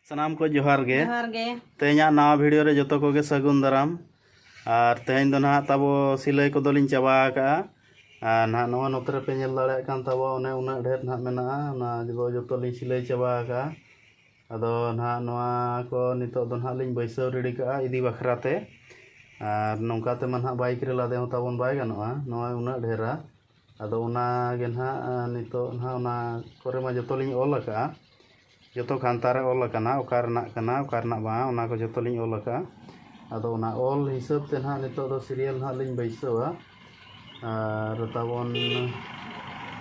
ᱥᱟᱱᱟᱢ ᱠᱚ ᱡᱚᱦᱟᱨ ᱜᱮ ᱡᱚᱦᱟᱨ ᱜᱮ ᱛᱮᱦᱮᱧᱟᱜ ᱱᱟᱣᱟ ᱵᱷᱤᱰᱤᱭᱳ ᱨᱮ ᱡᱚᱛᱚ ᱠᱚᱜᱮ ᱥᱟᱹᱜᱩᱱ ᱫᱟᱨᱟᱢ ᱟᱨ ᱛᱮᱦᱮᱧ ᱫᱚ ᱱᱟᱦᱟᱜ ᱛᱟᱵᱚ ᱥᱤᱞᱟᱹᱭ ᱠᱚᱫᱚᱞᱤᱧ ᱪᱟᱵᱟ ᱟᱠᱟᱜᱼᱟ ᱟᱨ ᱱᱟᱦᱟᱜ ᱱᱚᱣᱟ ᱱᱚᱛᱮ ᱨᱮᱯᱮ ᱧᱮᱞ ᱫᱟᱲᱮᱭᱟᱜ ᱠᱟᱱ ᱛᱟᱵᱚ ᱚᱱᱮ ᱩᱱᱟᱹᱜ ᱰᱷᱮᱨ ᱱᱟᱦᱟᱜ ᱢᱮᱱᱟᱜᱼᱟ ᱚᱱᱟ ᱫᱚ ᱡᱚᱛᱚᱞᱤᱧ ᱥᱤᱞᱟᱹᱭ ᱪᱟᱵᱟ ᱟᱠᱟᱜᱼᱟ ᱟᱫᱚ ᱱᱟᱜ ᱱᱚᱣᱟ ᱠᱚ ᱱᱤᱛᱚᱜ ᱫᱚ ᱱᱟᱜ ᱞᱤᱧ ᱵᱟᱹᱭᱥᱟᱹᱣ ᱨᱮᱰᱤ ᱠᱟᱜᱼᱟ ᱤᱫᱤ ᱵᱟᱠᱷᱨᱟ ᱛᱮ ᱟᱨ ᱱᱚᱝᱠᱟ ᱛᱮᱢᱟ ᱱᱟᱜ ᱵᱟᱭᱤᱠ ᱨᱮ ᱞᱟᱫᱮ ᱦᱚᱸ ᱛᱟᱵᱚᱱ ᱵᱟᱭ ᱜᱟᱱᱚᱜᱼᱟ ᱱᱚᱣᱟ ᱩᱱᱟᱹᱜ ᱰᱷᱮᱨᱟ ᱟᱫᱚ ᱚᱱᱟ ᱜᱮ ᱱᱟᱜ ᱱᱤᱛᱚᱜ ᱱᱟᱜ ᱚᱱᱟ ᱠᱚᱨᱮ ᱢᱟ ᱡᱚᱛᱚ ᱞᱤᱧ ᱚᱞ ᱠᱟᱜᱼᱟ ᱡᱚᱛᱚ ᱠᱷᱟᱱᱛᱟ ᱨᱮ ᱚᱞ ᱠᱟᱱᱟ ᱚᱠᱟ ᱨᱮᱱᱟᱜ ᱠᱟᱱᱟ ᱚᱠᱟ ᱨᱮᱱᱟᱜ ᱵᱟᱝ ᱚᱱᱟ ᱠᱚ ᱡᱚᱛᱚ ᱞᱤᱧ ᱚᱞ ᱠᱟᱜᱼᱟ ᱟᱫᱚ ᱚᱱᱟ ᱚᱞ ᱦᱤᱥᱟᱹᱵ ᱛᱮ ᱱᱟᱜ ᱱᱤᱛᱚᱜ ᱫᱚ ᱥᱤᱨᱤᱭᱟᱞ ᱱᱟᱜ ᱞᱤᱧ ᱵᱟᱹᱭᱥᱟᱹᱣᱟ ᱟᱨ ᱛᱟᱵᱚᱱ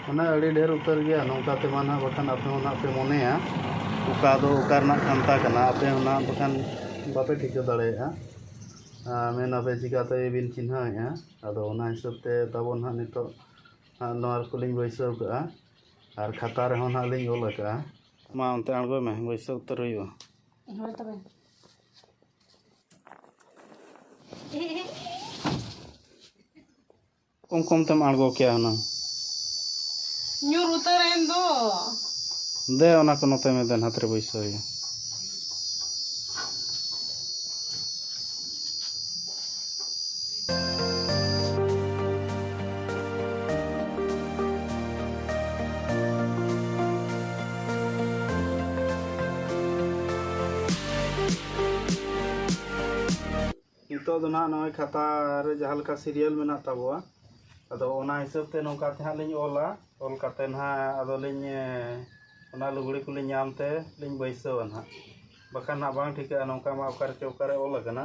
ᱢᱟᱱᱮ ᱟᱹᱰᱤ ᱰᱷᱮᱨ ᱩᱛᱟᱹᱨ ᱜᱮᱭᱟ ᱱᱚᱝᱠᱟ ᱛᱮᱢᱟ ᱱᱟᱜ ᱵᱟᱠᱷᱟᱱ ᱟᱯᱮ ᱦᱚᱸ ᱱᱟᱜ ᱯᱮ ᱢᱚᱱᱮᱭᱟ ᱚᱠᱟ ᱫᱚ ᱚᱠᱟ ᱨᱮᱱᱟᱜ ᱠᱟᱱᱛᱷᱟ ᱠᱟᱱᱟ ᱟᱯᱮ ᱦᱚᱸ ᱱᱟᱜ ᱵᱟᱠᱷᱟᱱ ᱵᱟᱯᱮ ᱴᱷᱤᱠᱟᱹ ᱫᱟᱲᱮᱭᱟᱜᱼᱟ ᱟᱨ ᱢᱮᱱ ᱟᱯᱮ ᱪᱤᱠᱟᱹ ᱛᱮ ᱵᱤᱱ ᱪᱤᱱᱦᱟᱹᱣᱮᱜᱼᱟ ᱟᱫᱚ ᱚᱱᱟ ᱦᱤᱥᱟᱹᱵ ᱛᱮ ᱛᱟᱵᱚᱱ ᱱᱟᱜ ᱱᱤᱛᱚᱜ ᱱᱚᱣᱟ ᱠᱚᱞᱤᱧ ᱵᱟᱹᱭᱥᱟᱹᱣ ᱠᱟᱜᱼᱟ ᱟᱨ ᱠᱷᱟᱛᱟ ᱨᱮᱦᱚᱸ ᱱᱟᱜ ᱞᱤᱧ ᱚᱞ ᱠᱟᱜᱼᱟ ᱢᱟ ᱚᱱᱛᱮ ᱟᱬᱜᱚᱭ ᱢᱮ ᱵᱟᱹᱭᱥᱟᱹᱣ ᱩᱛᱟᱹᱨ ᱦᱩᱭᱩᱜᱼᱟ ᱠᱚᱢ ᱠᱚᱢ ᱛᱮᱢ ᱟᱬᱜᱚ ᱠᱮᱭᱟ ᱦᱩᱱᱟᱹᱝ ᱧᱩᱨ ᱩᱛᱟᱹᱨᱮᱱ ᱫᱚ ᱫᱮ ᱚᱱᱟ ᱠᱚ ᱱᱚᱛᱮ ᱢᱮ ᱫᱮᱱ ᱦᱟᱛᱨᱮ ᱵᱟᱹᱭᱥᱟᱹᱣ ᱦᱩᱭᱩᱜᱼᱟ ᱱᱤᱛᱚᱜ ᱫᱚ ᱱᱟᱦᱟᱜ ᱱᱚᱜᱼᱚᱭ ᱠᱷᱟᱛᱟ ᱨᱮ ᱡᱟᱦᱟᱸ ᱞᱮᱠᱟ ᱥᱤᱨᱤᱭᱟᱞ ᱢᱮᱱᱟᱜ ᱛᱟᱵᱚᱣᱟ ᱟᱫᱚ ᱚᱱᱟ ᱦᱤᱥᱟᱹᱵ ᱛᱮ ᱱᱚᱝᱠᱟ ᱛᱮ ᱦᱟᱸᱜ ᱞᱤᱧ ᱚᱞᱟ ᱚᱞ ᱠᱟᱛᱮ ᱱᱟᱦᱟᱜ ᱟᱫᱚ ᱞᱤᱧ ᱚᱱᱟ ᱞᱩᱜᱽᱲᱤ ᱠᱚᱞᱤᱧ ᱧᱟᱢ ᱛᱮ ᱞᱤᱧ ᱵᱟᱹᱭᱥᱟᱹᱣᱟ ᱱᱟᱦᱟᱜ ᱵᱟᱠᱷᱟᱱ ᱱᱟᱦᱟᱜ ᱵᱟᱝ ᱴᱷᱤᱠᱟᱹᱜᱼᱟ ᱱᱚᱝᱠᱟ ᱢᱟ ᱚᱠᱟ ᱨᱮᱪᱚ ᱚᱠᱟ ᱨᱮ ᱚᱞ ᱟᱠᱟᱱᱟ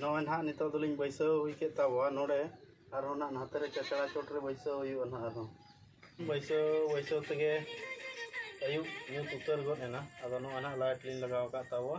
ᱱᱚᱜᱼᱚᱭ ᱱᱟᱦᱟᱜ ᱱᱤᱛᱚᱜ ᱫᱚᱞᱤᱧ ᱵᱟᱹᱭᱥᱟᱹᱣ ᱦᱩᱭ ᱠᱮᱫ ᱛᱟᱵᱚᱣᱟ ᱱᱚᱰᱮ ᱟᱨᱦᱚᱸ ᱱᱟᱦᱟᱜ ᱱᱟᱛᱮ ᱨᱮ ᱪᱟᱪᱲᱟ ᱪᱚᱴ ᱨᱮ ᱵᱟᱹᱭᱥᱟᱹᱣ ᱦᱩᱭᱩᱜᱼᱟ ᱱᱟᱦᱟᱜ ᱟᱨᱦᱚᱸ ᱵᱟᱹᱭᱥᱟᱹᱣ ᱵᱟᱹᱭᱥᱟᱹᱣ ᱛᱮᱜᱮ ᱟᱹᱭᱩᱵ ᱧᱩᱛ ᱩᱛᱟᱹᱨ ᱜᱚᱫ ᱮᱱᱟ ᱟᱫᱚ ᱱᱚᱜᱼᱚᱭ ᱱᱟᱦᱟᱜ ᱞᱟᱭᱤᱴ ᱞᱤᱧ ᱞᱟᱜᱟᱣ ᱟᱠᱟᱫ ᱛᱟᱵᱚᱣᱟ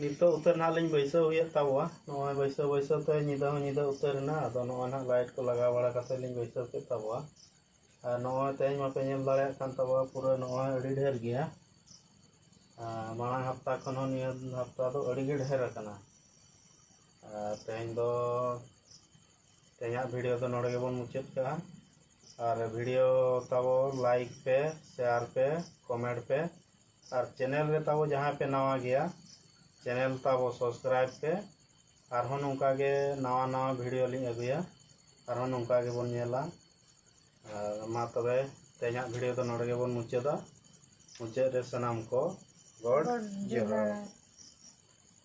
ᱱᱤᱛᱚᱜ ᱩᱛᱟᱹᱨ ᱱᱟᱦᱟᱜ ᱞᱤᱧ ᱵᱟᱹᱭᱥᱟᱹᱣ ᱦᱩᱭᱮᱫ ᱛᱟᱵᱚᱣᱟ ᱱᱚᱜᱼᱚᱭ ᱵᱟᱹᱭᱥᱟᱹᱣ ᱵᱟᱹᱭᱥᱟᱹᱣ ᱛᱮ ᱧᱤᱫᱟᱹ ᱦᱚᱸ ᱧᱤᱫᱟᱹ ᱩᱛᱟᱹᱨ ᱮᱱᱟ ᱟᱫᱚ ᱱᱚᱜᱼᱚᱭ ᱱᱟᱦᱟᱜ ᱞᱟᱭᱤᱴ ᱠᱚ ᱞᱟᱜᱟᱣ ᱵᱟᱲᱟ ᱠᱟᱛᱮ ᱞᱤᱧ ᱵᱟᱹᱭᱥᱟᱹᱣ ᱠᱮᱫ ᱛᱟᱵᱚᱣᱟ ᱟᱨ ᱱᱚᱜᱼᱚᱭ ᱛᱮᱦᱮᱧ ᱢᱟᱯᱮ ᱧᱮᱞ ᱫᱟᱲᱮᱭᱟᱜ ᱠᱟᱱ ᱛᱟᱵᱚᱣᱟ ᱯᱩᱨᱟᱹ ᱱᱚᱜᱼᱚᱭ ᱟᱹᱰᱤ ᱰᱷᱮᱨ ᱜᱮᱭᱟ ᱟᱨ ᱢᱟᱲᱟᱝ ᱦᱟᱯᱛᱟ ᱠᱷᱚᱱ ᱦᱚᱸ ᱱᱤᱭᱟᱹ ᱦᱟᱯᱛᱟ ᱫᱚ ᱟᱹᱰᱤ ᱜᱮ ᱰᱷᱮᱨ ᱟᱠᱟᱱᱟ ᱟᱨ ᱛᱮᱦᱮᱧ ᱫᱚ ᱛᱮᱦᱮᱧᱟᱜ ᱵᱷᱤᱰᱤᱭᱳ ᱫᱚ ᱱᱚᱰᱮ ᱜᱮᱵᱚᱱ ᱢᱩᱪᱟᱹᱫ ᱠᱟᱜᱼᱟ ᱟᱨ ᱵᱷᱤᱰᱤᱭᱳ ᱛᱟᱵᱚ ᱞᱟᱭᱤᱠ ᱯᱮ ᱥᱮᱭᱟᱨ ᱯᱮ ᱠᱚᱢᱮᱱᱴ ᱯᱮ ᱟᱨ ᱪᱮᱱᱮᱞ ᱨᱮ ᱛᱟᱵᱚ ᱡᱟᱦᱟᱸᱭ ᱯᱮ ᱱᱟᱣᱟ ᱜᱮᱭᱟ ᱪᱮᱱᱮᱞ ᱛᱟᱵᱚ ᱥᱟᱵᱥᱠᱨᱟᱭᱤᱵ ᱯᱮ ᱟᱨᱦᱚᱸ ᱱᱚᱝᱠᱟ ᱜᱮ ᱱᱟᱣᱟ ᱱᱟᱣᱟ ᱵᱷᱤᱰᱤᱭᱳ ᱞᱤᱧ ᱟᱹᱜᱩᱭᱟ ᱟᱨᱦᱚᱸ ᱱᱚᱝᱠᱟ ᱜᱮᱵᱚᱱ ᱧᱮᱞᱟ ᱟᱨ ᱢᱟ ᱛᱚᱵᱮ ᱛᱮᱦᱮᱧᱟᱜ ᱵᱷᱤᱰᱤᱭᱳ ᱫᱚ ᱱᱚᱰᱮ ᱜᱮᱵᱚᱱ ᱢᱩᱪᱟᱹᱫᱟ ᱢᱩᱪᱟᱹᱫ ᱨᱮ ᱥᱟᱱᱟᱢ ᱠᱚ ᱜᱚᱰ ᱡᱚᱦᱟᱨ